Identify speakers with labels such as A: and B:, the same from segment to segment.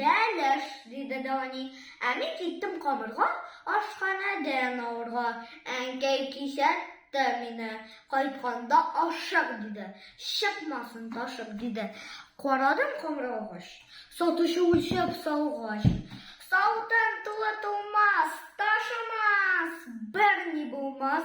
A: Бәлеш, диде Дани. Ә мин киттем камырга, ашханәдән алырга. Әнкәй кисәтте мине. Кайтканда ашык, диде. Чыкмасын ташып, диде. Карадым камыр алгач. Сатучы үлчәп салгач. Саудам тулы тулмас, ташымас, берни булмас.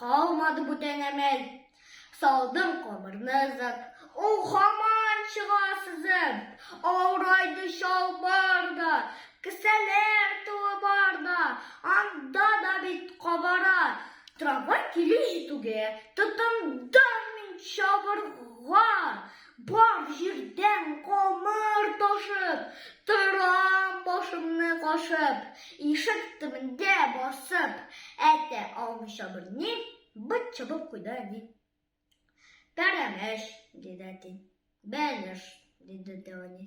A: Калмады бүтән әмәл. Салдым камырны ызып. Ул хаман чыга сызып. Авырайды чалбар да, кесәләр тулы бар да, анда да бит кабара. Трамвай килү җитүгә, тотындым мин чабырга. Бар җирдән камыр ташып, Торам башымны кашып, Ишек төбендә басып, Әйтә алмыйча берни, Быт чабып куйды әни. Пәрәмәч, диде әти. Бәлеш, диде дә әни.